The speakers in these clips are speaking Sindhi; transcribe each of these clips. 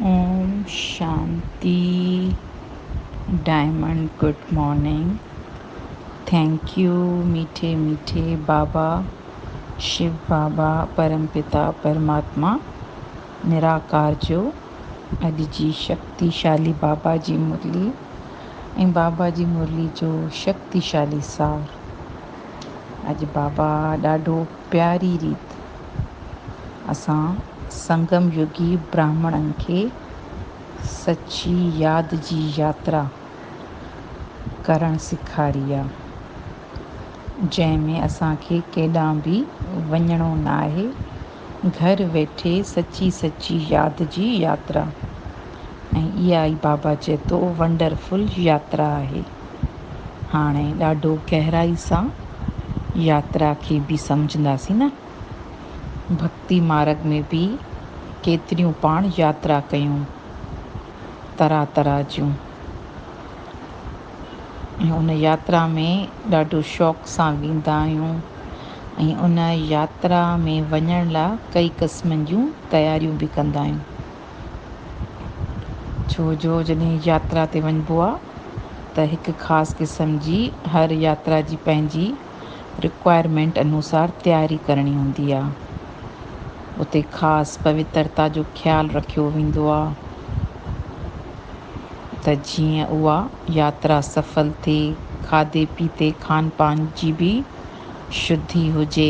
اوم شانتي diamond good morning thank you ميٺي ميٺي بابا شو بابا پرم پتا پرماتما نراڪار جو اڄ جي شڪتي شالي بابا جي مرلي ۽ بابا جي مرلي جو شڪتي شالي سار اڄ بابا ڏاڍو پياري ريت اسان سنگم يوگي براهمڻن کي سچي ياد جي ياترا ڪرڻ سيکاري آ، جنهن ۾ اسان کي ڪيڏانهن به وڃڻو ناهي، گهر ويٺي سچي سچي ياد جي ياترا ۽ اها ئي بابا چئي ٿو ونڊرفل ياترا آهي. هاڻي ڏاڍو گهرائي سان ياترا کي به سمجهنداسين نه؟ ڀڳتي مارڳ ۾ به ڪيتريون پاڻ ياترا ڪيون، طرح طرح جون. ۽ ان ياترا ۾ ڏاڍو شوق سان ويندا آهيون ۽ ان ياترا ۾ وڃڻ لاء ڪئي قسمن جون تياريون به ڪندا آهيون. ڇو جو جڏهن ياترا تي وڃبو آهي ته هڪ خاص قسم جي هر ياترا جي پنهنجي رڪوائرمينٽ انوسار تياري ڪرڻي هوندي آهي. اتي خاص پوترتا جو خيال رکيو ويندو آهي ته جيئن اها ياترا سڦل ٿئي، کاڌي پيتي، کان پان جي به. شڌي هجي،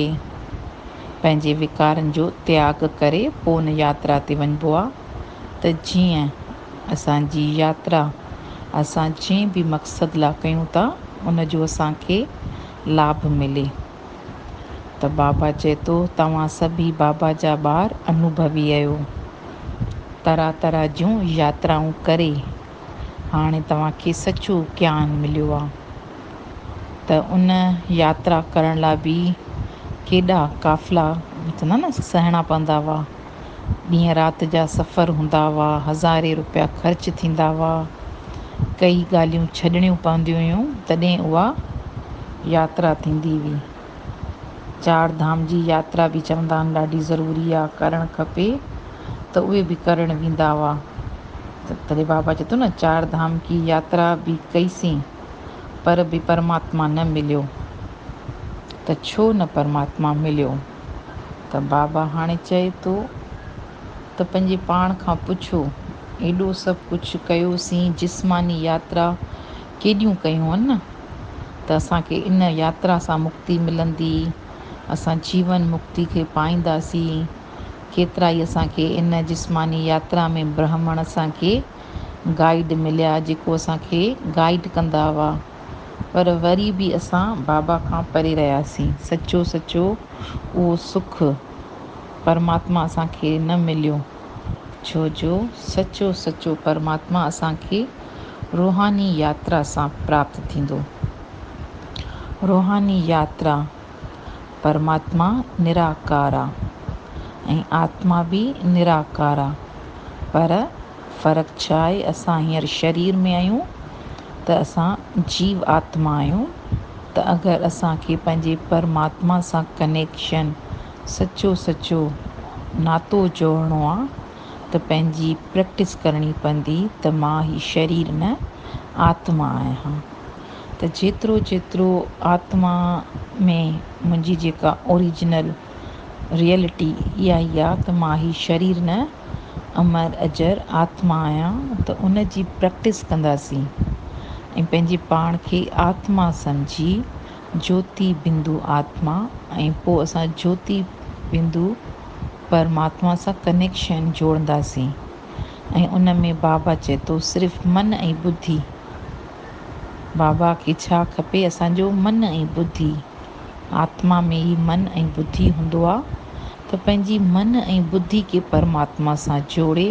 پنهنجي وڪارن جو تياڳ ڪري پوء ان ياترا تي وڃبو آ ته جيئن اسان جي ياترا اسان جنهن به مقصد لا ڪيون ٿا ان جو اسان کي لاڀ ملي ته بابا چئي ٿو توهان سڀئي بابا جا ٻار انوڀوي اهيو طرح طرح جون ياترائون ڪري هاڻي توهان کي سچو گيان مليو آ. ته ان ياترا ڪرڻ لاء به ڪيڏا قافلا سهڻا پوندا هئا. ڏينهن رات جا سفر هوندا هئا، هزارين روپيا خرچ ٿيندا هئا. ڪيئي ڳالهيون ڇڏڻيون پونديون هيون تڏهن اها ياترا ٿيندي هئي. چار ڌام جي ياترا به چوندا آهن ڏاڍي ضروري آهي، ڪرڻ کپي ته اهي به ڪرڻ ويندا هئا. تڏهن بابا چوي ٿو نه چار ڌام ڪي ياترا به ڪئي سين. پر به پرماتما نه مليو ته ڇو نه پرماتما مليو ته بابا هاڻي چئي ٿو ته پنهنجي پاڻ کان پڇو ايڏو سڀ ڪجهه ڪيوسين جسماني ياترا ڪيڏيون ڪيون نه ته اسان کي ان ياترا سان مڪتي ملندي اسان جيون مڪتي کي پائينداسين ڪيترائي اسان کي ان جسماني ياترا ۾ برهمڻ اسان کي گائيڊ مليا جيڪو اسان کي گائيڊ ڪندا هئا پر وري به اسان بابا کان پري رهياسين سچو سچو اهو سک پرماتما اسان کي نه مليو ڇو جو سچو سچو پرماتما اسان کي روحاني ياترا سان پراپت ٿيندو روحاني ياترا پرماتما نراڪار آ ۽ آتما به نراڪار آ پر فرق ڇا آهي اسان هينئر شرير ۾ آهيون ته اسان جيو آتما آهيون ته اگر اسان کي پنهنجي پرماتما سان ڪنيڪشن سچو سچو ناتو جوڙڻو آ ته پنهنجي پريڪٽس ڪرڻي پوندي ته مان هي شرير نه آتما آهيان. ته جيترو جيترو آتما ۾ منهنجي جيڪا اوريجنل ريئلٽي اها ئي آ ته مان هي شرير نه امر اجر آتما آهيان ته ان جي پريڪٽس ڪنداسين ۽ پنهنجي پاڻ کي آتما سمجهي جوتي بندو آتما ۽ پوء اسان جوتي بندو پرماتما سان ڪنيڪشن جوڙنداسين ۽ ان ۾ بابا چئي ٿو صرف من ۽ ٻڌي بابا کي ڇا کپي اسان جو من ۽ ٻڌي آتما ۾ هي من ۽ ٻڌي هوندو آ ته پنهنجي من ۽ ٻڌي کي پرماتما سان جوڙي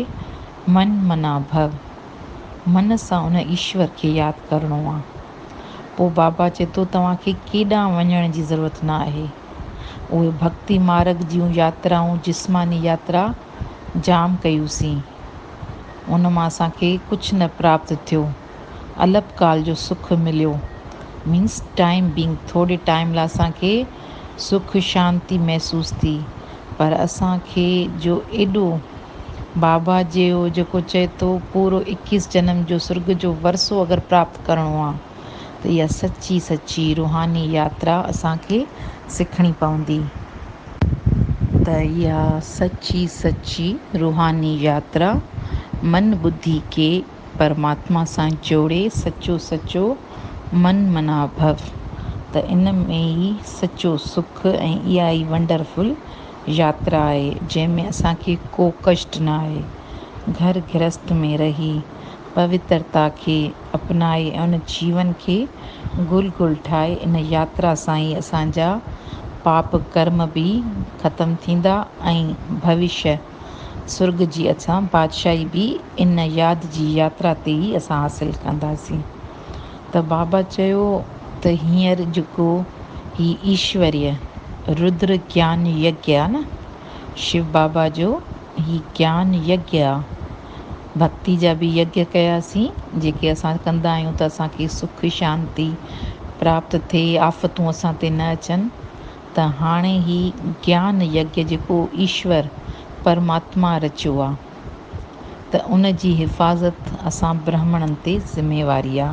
من منا ڀو من سان ان ايشور کي ياد ڪرڻو آ پو بابا چئي ٿو توهان کي ڪيڏانهن وڃڻ جي ضرورت نه آهي اهي ڀڳتي مارگ جون ياترائون جسماني ياترا جام ڪيون سين. ان مان اسان کي ڪجهه نه پراپت ٿيو، الپ ڪال جو سک مليو، Means Time Being، ٿوري ٽائيم لاء اسان کي سک شانتي محسوس ٿي، پر اسان کي جو ايڏو بابا جيو جيڪو چئي ٿو پورو اڪيس جنم جو سرڳ جو ورثو اگر پراپت ڪرڻو آ. ته اها سچي سچي روحاني ياترا اسان کي سکڻي پوندي. ته اها سچي سچي روحاني ياترا من ٻڌي کي پرماتما سان جوڙي سچو سچو من منا ڀو ته ان ۾ ئي سچو سک ۽ اها ئي ونڊرفل ياترا آهي جنهن ۾ اسان کي ڪو ڪشٽ نه آهي گهر گرهست ۾ رهي پوترتا کي اپنائي ۽ ان جيون کي گل گل ٺاهي ان ياترا سان ئي اسان جا پاپ ڪرم به ختم ٿيندا ۽ ڀوشيه سرڳ جي اسان بادشاهي به ان ياد جي ياترا تي ئي اسان حاصل ڪنداسين ته بابا چيو ته هينئر جيڪو هي ايشوريه رودر گيان يگيا نه شو بابا جو هي گيان يگيا آ. ڀڳتي جا به يگيا ڪياسين، جيڪي اسان ڪندا آهيون ته اسان کي سک شانتي پراپت ٿئي، آفتون اسان تي نه اچن، ته هاڻي هي گيان يگيا جيڪو ايشور پرماتما رچيو آ، ته ان جي حفاظت اسان برهمڻن تي ذميواري آ.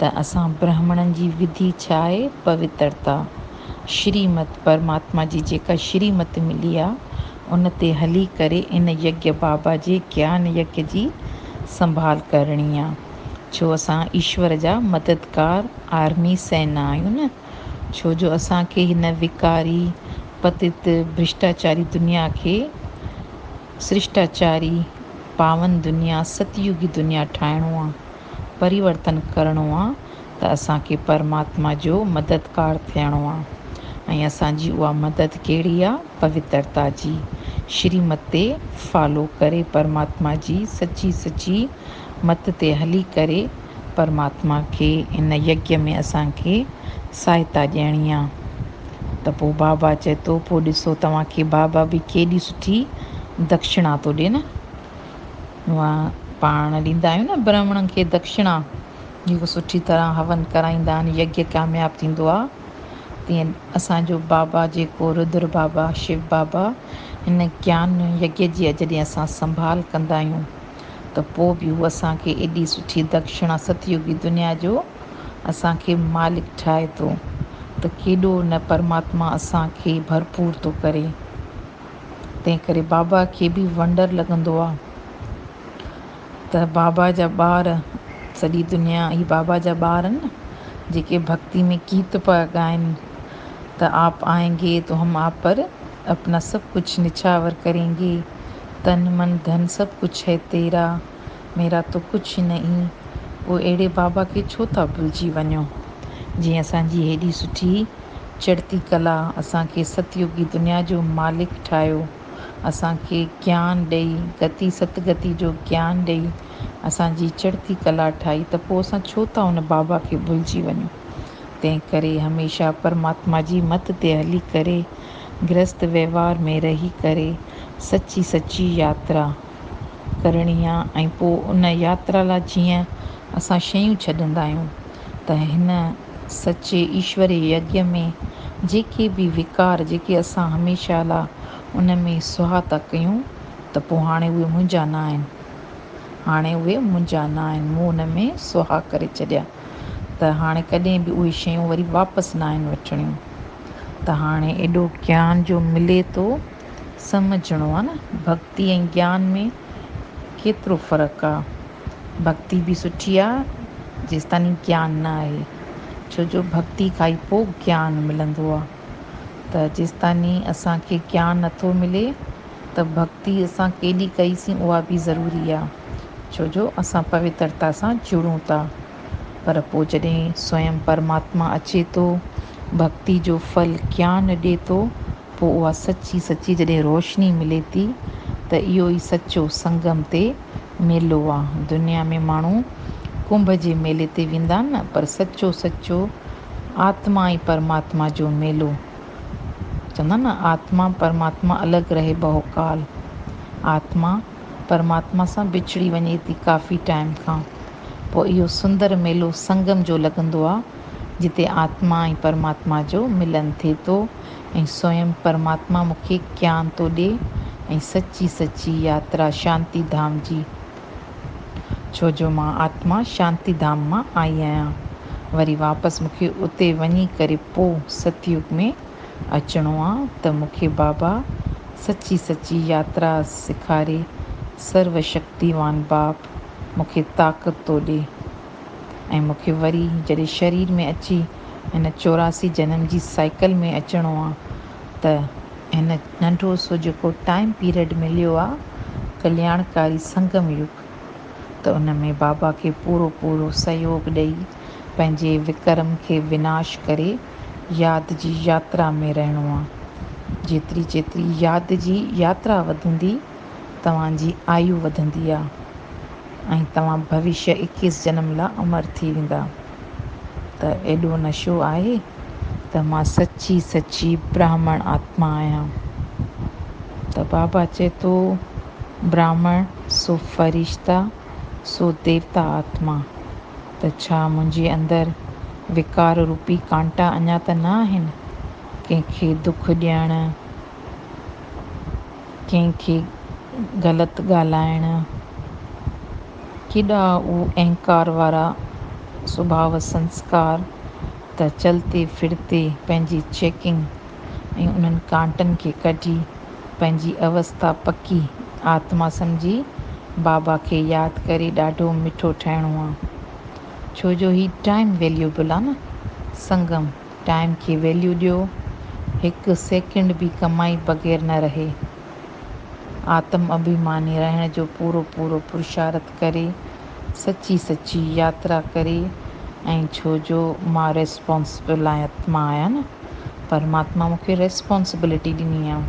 ته اسان برهمڻن جي وڌي ڇا آهي پوترتا، شري مت، پرماتما جي جيڪا شري مت ملي آ، ان تي هلي ڪري ان يگيا بابا جي گيان يگ جي سنڀال ڪرڻي آ، ڇو اسان ايشور جا مددگار آرمي سينا آهيون نه، ڇو جو اسان کي هن وڪاري، پتت، برشٽاچاري دنيا کي سرشٽاچاري، پاون دنيا، ستيوگي دنيا ٺاهڻو آ. پريورتن ڪرڻو آ ته اسان کي پرماتما جو مددگار ٿيڻو آ ۽ اسان جي اها مدد ڪهڙي آ پوترتا جي شري مت تي فالو ڪري پرماتما جي سچي سچي مت تي هلي ڪري پرماتما کي ان يگيا ۾ اسان کي ساهتا ڏيڻي آ ته پو بابا چئي ٿو پو ڏسو توهان کي بابا به ڪيڏي سٺي دکشڻا ٿو ڏي نه اوهان پاڻ ڏيندا آهيو نه برهمڻن کي دکشڻا، جيڪو سٺي طرح هون ڪرائيندا آهن، يگيا ڪامياب ٿيندو آهي. تيئن اسان جو بابا جيڪو رودر بابا، شو بابا، هن گيان يگيا جي جڏهن اسان سنڀال ڪندا آهيون ته پوء به هو اسان کي ايڏي سٺي دکشڻا ست يوگي دنيا جو اسان کي مالڪ ٺاهي ٿو ته ڪيڏو نه پرماتما اسان کي ڀرپور ٿو ڪري. تنهن ڪري بابا کي به ونڊر لڳندو آ ته بابا جا ٻار سڄي دنيا هي بابا جا ٻار آهن نه جيڪي ڀڳتي ۾ گيت پيا ڳائن ته آپ آئين گي تو هم آپ پر اپنا سڀ ڪجهه نڇاور ڪرين گي تن من ڌن سڀ ڪجهه هي تيرا. ميرا تو ڪڇ نهين، پوء اهڙي بابا کي ڇو ٿا ڀلجي وڃو، جنهن اسان جي هيڏي سٺي چڙتي ڪلا، اسان کي ست يوگي دنيا جو مالڪ ٺاهيو، اسان کي گيان ڏئي، گتي ست گتي جو گيان ڏئي، اسان جي چڙتي ڪلا ٺاهي ته پوء اسان ڇو ٿا ان بابا کي ڀلجي وڃون. تنهن ڪري هميشه پرماتما جي مت تي هلي ڪري، گرهست وهنوار ۾ رهي ڪري، سچي سچي ياترا، ڪرڻي آ ۽ پوء ان ياترا لاء جيئن اسان شيون ڇڏندا آهيون ته هن سچي ايشوري يگيء ۾ جيڪي به وڪار جيڪي اسان هميشه لاء ان ۾ سهاء ٿا ڪيون ته پوء هاڻي اهي منهنجا نه آهن هاڻي اهي منهنجا نه آهن مون ان ۾ سهاء ڪري ڇڏيا ته هاڻي ڪڏهن به اهي شيون وري واپس نه آهن وٺڻيون ته هاڻي ايڏو گيان جو ملي ٿو سمجهڻو آ نه ڀڳتي ۽ گيان ۾ ڪيترو فرق آ. ڀڳتي به سٺي آ جيستائين گيان نه آهي. ڇو جو ڀڳتي کان ئي پوء گيان ملندو آ. ته جيستائين اسان کي گيان نه ٿو ملي ته ڀڳتي اسان ڪيڏي ڪئيسين اها به ضروري آ. ڇو جو اسان پوترتا سان جڙون ٿا. پر پوء جڏهن سوئم پرماتما اچي ٿو، ڀڳتي جو ڦل گيان ڏي ٿو، پوء اها سچي سچي جڏهن روشني ملي ٿي ته اهو ئي سچو سنگم تي ميلو آ. دنيا ۾ ماڻهو ڪنڀ جي ميلي تي ويندا نه پر سچو سچو آتما ۽ پرماتما جو ميلو. چوندا نه آتما پرماتما الڳ رهي بهو ڪال. آتما پرماتما سان وڇڙي وڃي ٿي ڪافي ٽائيم کان پوء اهو سندر ميلو سنگم جو لڳندو آ جتي آتما ۽ پرماتما جو ملن ٿي ٿو. ۽ سوئم پرماتما مون کي گيان ٿو ڏي ۽ سچي سچي ياترا شانتي ڌام جي ڇو جو مان آتما شانتي ڌام مان آئي آهيان وري واپس مون کي اتي وڃي ڪري پو ستيوگ ۾ اچڻو آ ته مون کي بابا سچي سچي ياترا سيکاري سرو شڪتيوان باپ مون کي طاقت ٿو ڏي. ۽ مون کي وري جڏهن شرير ۾ اچي هن چوراسي جنم جي سائيڪل ۾ اچڻو آ ته هن ننڍو سو جيڪو ٽائيم پيريڊ مليو آ ڪلياڻڪاري سنگم يگ ته ان ۾ بابا کي پورو پورو سهيوگ ڏئي پنهنجي وڪرم کي وناش ڪري ياد جي ياترا ۾ رهڻو آ. جيتري جيتري ياد جي ياترا وڌندي توهان جي آيو وڌندي آ. ۽ توهان ڀوشيه اڪيس جنم لاء امر ٿي ويندا. ته ايڏو نشو آهي ته مان سچي سچي براهمڻ آتما آهيان. ته بابا چئي ٿو براهمڻ سو فرشته سو ديوتا آتما. ته ڇا منهنجي اندر وڪار روپي ڪانٽا اڃا ته نه آهن ڪنهن کي دک ڏيڻ. ڪنهن کي غلط ڳالهائڻ، ڪيڏا اهو اهنڪار وارا سڀاء سنسڪار ته چلتي ڦرتي پنهنجي چيڪنگ ۽ انهن ڪانٽن کي ڪڍي پنهنجي اوستا پڪي آتما سمجهي بابا کي ياد ڪري ڏاڍو مٺو ٺهڻو آ ڇو جو هي ٽائيم ويليوبل آ نه سنگم ٽائيم کي ويليو ڏيو، هڪ سيڪنڊ به ڪمائي بغير نه رهي. آتم اڀيماني رهڻ جو پورو پورو پرشارت ڪري، سچي سچي ياترا ڪري ۽ ڇو جو مان ريسپانسبل آتما آهيان نه، پرماتما مون کي ريسپانسبلٽي ڏني آ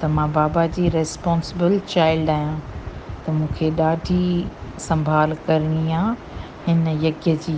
ته مان بابا جي ريسپانسبل چائلڊ آهيان ته مون کي ڏاڍي سنڀال ڪرڻي آ هن يگيا جي.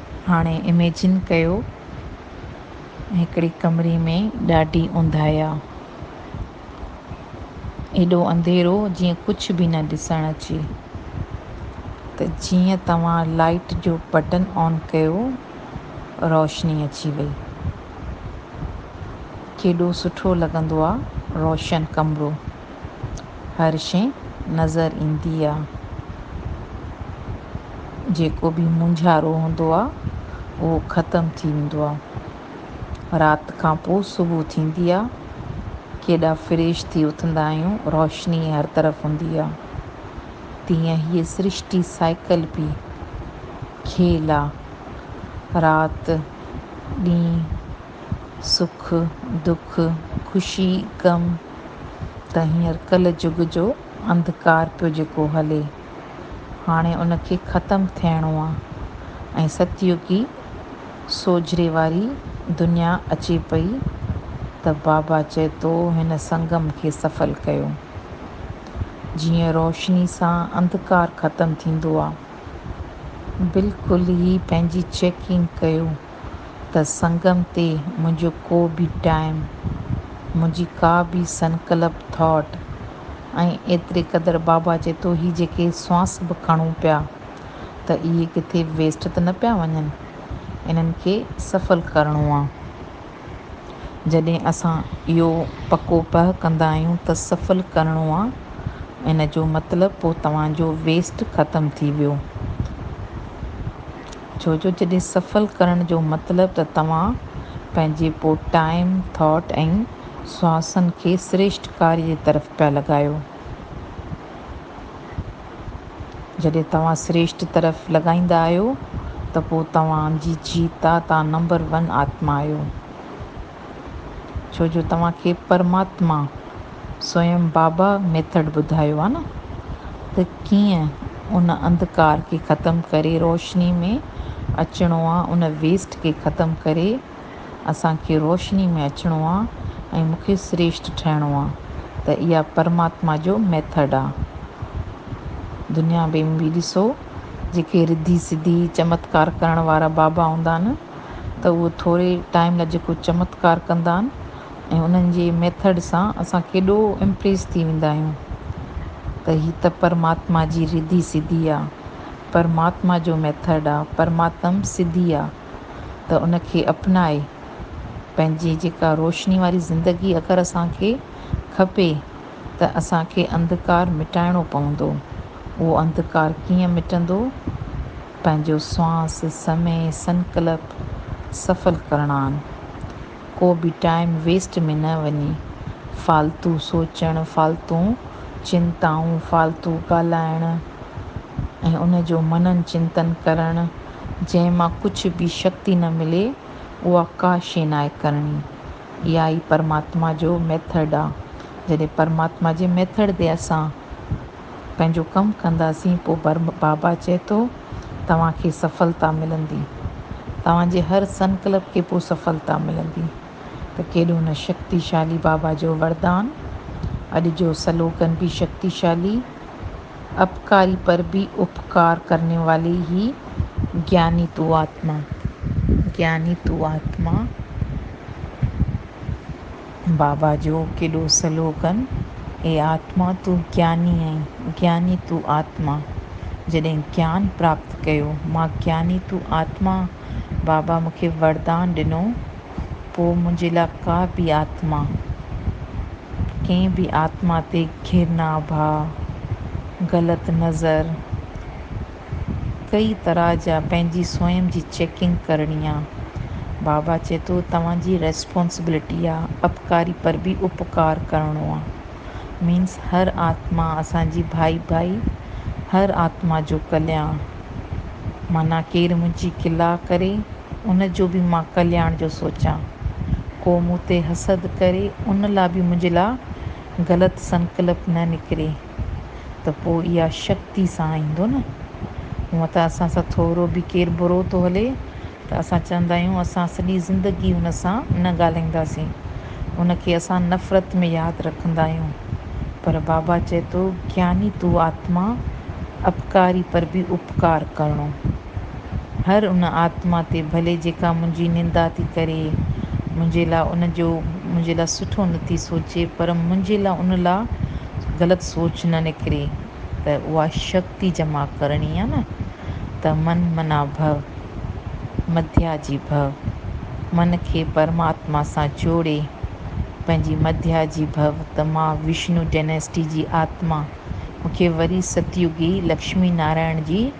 هاڻي اميجن ڪيو ته هڪڙي ڪمري ۾ ڏاڍي اونداهي آ. ايڏو انڌيرو جيئن ڪجهه به نه ڏسڻ اچي. ته جيئن توهان لائٽ جو بٽن آن ڪيو روشني اچي وئي. ڪيڏو سٺو لڳندو آ روشن ڪمرو. هر شيء نظر ايندي آ. جيڪو به مونجهارو هوندو آ، اهو ختم ٿي ويندو آ. رات کان پوء صبح ٿيندي آ. ڪيڏا فريش ٿي اٿندا آهيون، روشني هر طرف هوندي آ. تيئن هيء سرشتي سائيڪل به کيل آ. رات، ڏينهن، سک، دک، خوشي، غم ته هينئر ڪل جگ جو انڌڪار پيو جيڪو هلي، هاڻي ان کي ختم ٿيڻو آ ۽ ستيوگي سوجهري واري دنيا اچي پئي ته بابا چئي تو هن سنگم کي سڦل ڪيو. جيئن روشني سان انڌڪار ختم ٿيندو آ. بلڪل هي پنهنجي چيڪنگ ڪيو. ته سنگم تي منهنجو ڪو به ٽائيم، منهنجي ڪا به سنڪلپ، ٿاٽ، ۽ ايتري قدر بابا چئي ٿو هي جيڪي سوانس به کڻون پيا ته اهي ڪٿي ويسٽ ته نه پيا وڃن، انهن کي سڦل ڪرڻو آ. جڏهن اسان اهو پڪو پهه ڪندا آهيون ته سڦل ڪرڻو آ، ان جو مطلب پوء توهان جو ويسٽ ختم ٿي ويو. ڇو جو جڏهن سفل ڪرڻ جو مطلب ته توهان پنهنجي پوء ٽائيم، ٿاٽ ۽ سواسن کي سريشٽڪاري جي طرف پيا لڳايو. جڏهن توهان سريشٽ طرف لڳائيندا آهيو ته پوء توهان جي جيتا تان نمبر ون آتما آهيو. ڇو جو توهان کي پرماتما سوئم بابا ميٿڊ ٻڌايو آهي نه ته ڪيئن ان انڌڪار کي ختم ڪري روشني ۾ اچڻو آهي ان ويسٽ کي ختم ڪري اسان کي روشني ۾ اچڻو آهي ۽ مون کي سريشٽ ٺهڻو آهي ته اها پرماتما جو ميٿڊ آهي دنيا ۾ به ڏسو جيڪي رڌي سڌي چمتڪار ڪرڻ وارا بابا هوندا آهن ته اهو ٿوري ٽائيم لاء جيڪو چمتڪار ڪندا آهن ۽ انهن جي ميٿڊ سان اسان ڪيڏو امپريس ٿي ويندا آهيون ته هي ته پرماتما جي رڌي سڌي آ پرماتما جو ميٿڊ آ پرماتم سڌي آ ته ان کي اپنائي پنهنجي جيڪا روشني واري زندگي اگر اسان کي کپي ته اسان کي انڌڪار مٽائڻو پوندو. اهو انڌڪار ڪيئن مٽندو؟ پنهنجو سوانح، سمي، سنڪلپ سڦل ڪرڻان. ڪو به ٽائيم ويسٽ ۾ نه وڃي. فالتو سوچڻ، فالتون چنتائون، فالتو ڳالهائڻ ۽ ان جو منن چنتن ڪرڻ، جنهن مان ڪجهه به شڪتي نه ملي، اها ڪا شيء ناهي ڪرڻي. اها ئي پرماتما جو ميٿڊ آ. جڏهن پرماتما جي ميٿڊ تي اسان پنهنجو ڪم ڪنداسين پوء بابا چئي ٿو توهان کي سڦلتا ملندي. توهان جي هر سنڪلپ کي پوء سڦلتا ملندي. ته ڪيڏو نه شڪتيشالي بابا جو وردان. اڄ جو سلوگن به شڪتيشالي. اپڪاري پر ڀي اپڪار ڪرني والي هي گياني تو آتما گياني تو آتما بابا جو ڪيڏو سلوگن اي آتما تو گياني آهين گياني تو آتما جڏهن گيان پراپت ڪيو مان گياني تو آتما بابا مون کي وردان ڏنو پوء منهنجي لاء ڪا به آتما، ڪنهن به آتما تي گهرنا ڀاء، غلط نظر، ڪئي طرح جا پنهنجي سوئم جي چيڪنگ ڪرڻي آ. بابا چئي ٿو توهان جي ريسپانسبلٽي آ اپڪاري پر به اپڪار ڪرڻو آ. مينس هر آتما اسان جي ڀائي ڀائي هر آتما جو ڪلياڻ معنيٰ ڪير منهنجي ڪلا ڪري ان جو به مان ڪلياڻ جو سوچان ڪو مون تي حسد ڪري ان لا به منهنجي لا غلط سنڪلپ نه نڪري ته پو اها شڪتي سان ايندو نه هونء ته اسان سان ٿورو به ڪير برو ٿو هلي ته اسان چوندا آهيون اسان سڄي زندگي هن سان نه ڳالهائينداسين، هن کي اسان نفرت ۾ ياد رکندا آهيون، پر بابا چئي ٿو گياني تو آتما اپڪاري پر به اپڪار ڪرڻو. هر ان آتما تي ڀلي جيڪا منهنجي نندا ٿي ڪري، منهنجي لاء ان جو منهنجي لاء سٺو نه ٿي سوچي پر منهنجي لاء ان لاء غلط سوچ نه نڪري. ته اها شڪتي جمع ڪرڻي آهي نه ته من منا ڀو، مڌيا جي ڀو، من کي پرماتما سان جوڙي پنهنجي مڌيا جي ڀو ته مان وشنو ڊيناسٽي جي آتما، مون کي وري ستيوگي لڪشمي نارائڻ جي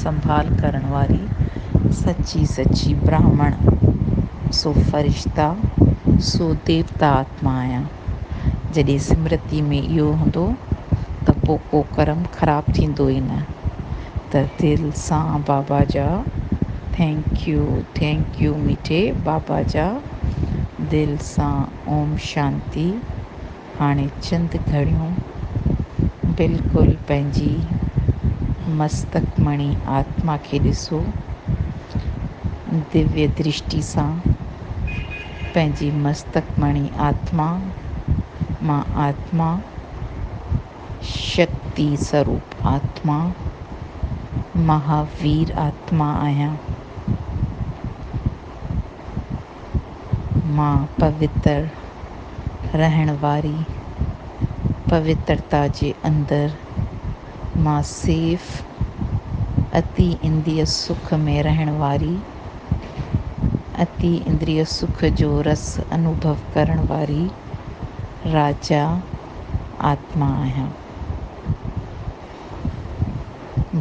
سنڀال ڪرڻ واري سچي سچي براهمڻ سو فرشتا سو ديوتا آتما آهيان. جڏهن سمرتي ۾ اهو هوندو ته پوء ڪو ڪرم خراب ٿيندو ئي نه. ته دل سان بابا جا ٿينڪ يو ٿينڪ يو مٺي بابا جا دل سان اوم شانتي هاڻي چند گهڙيون بلڪل پنهنجي مستڪ مڻي آتما کي ڏسو، ديويه درشٽي سان پنهنجي مستڪ مڻي آتما مان آتما شڪتي سروپ آتما مها وير آتما آهيان. مان پوتر رهڻ واري پوترتا جي اندر مان سيف اتي انديء سک ۾ رهڻ واري، اتي اندريء سک جو رس انوڀو ڪرڻ واري راجا آتما آهيان.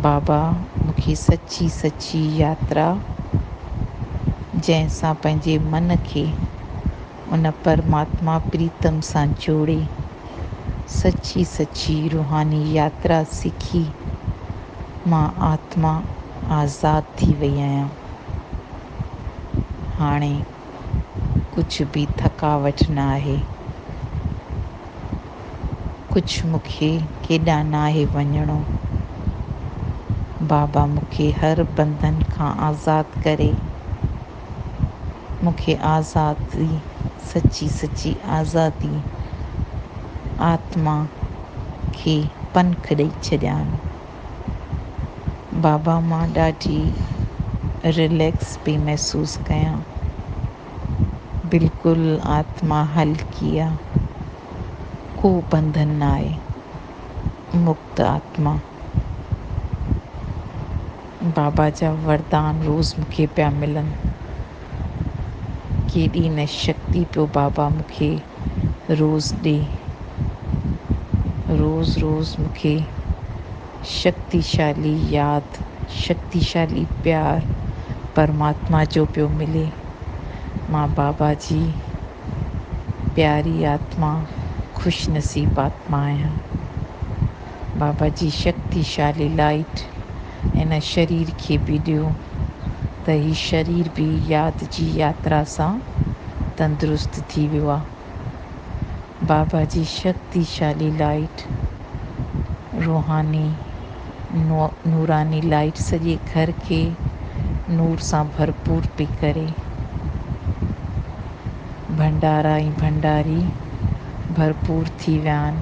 بابا مون کي سچي سچي ياترا جنهن سان پنهنجي من کي ان پرماتما پريتم سان جوڙي سچي سچي روحاني ياترا سکي مان آتما آزاد ٿي وئي آهيان هاڻي ڪجهه به ٿڪاوٽ نه آهي. ڪجهه مون کي ڪيڏانهن نه آهي وڃڻو. بابا مون کي هر بندن کان آزاد ڪري. مون کي آزادي، سچي سچي آزادي، آتما کي پنک ڏئي ڇڏيان. بابا مان ڏاڍي رليڪس پئي محسوس ڪيان بلڪل آتما هلڪي آ ڪو بنڌن نه آهي مڪت آتما بابا جا وردان روز مونکي پيا ملن ڪيڏي نه شڪتي پيو بابا مونکي روز ڏي. روز روز مون کي شڪتيشالي ياد، شڪتيشالي پيار پرماتما جو پيو ملي. مان بابا جي پياري آتما، خوش نصيب آتما آهيان. بابا جي شڪتي شالي لائيٽ ان شرير کي به ڏيو ته هي شرير به ياد جي ياترا سان تندرست ٿي ويو آ بابا جي شڪتي شالي لائيٽ روحاني نوراني لائيٽ سڄي گهر کي نور سان ڀرپور پي ڪري ڀنڊارا ۽ ڀنڊاري ڀرپور ٿي ويا آهن.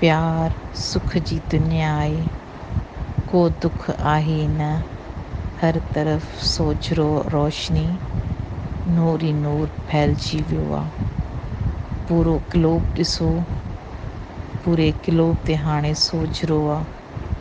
پيار سک جي دنيا آهي، ڪو دک آهي ئي نه، هر طرف سوجهرو روشني، نور ئي نور ڦهلجي ويو آ. پورو گلوب ڏسو، پوري گلوب تي هاڻي سوجهرو آ.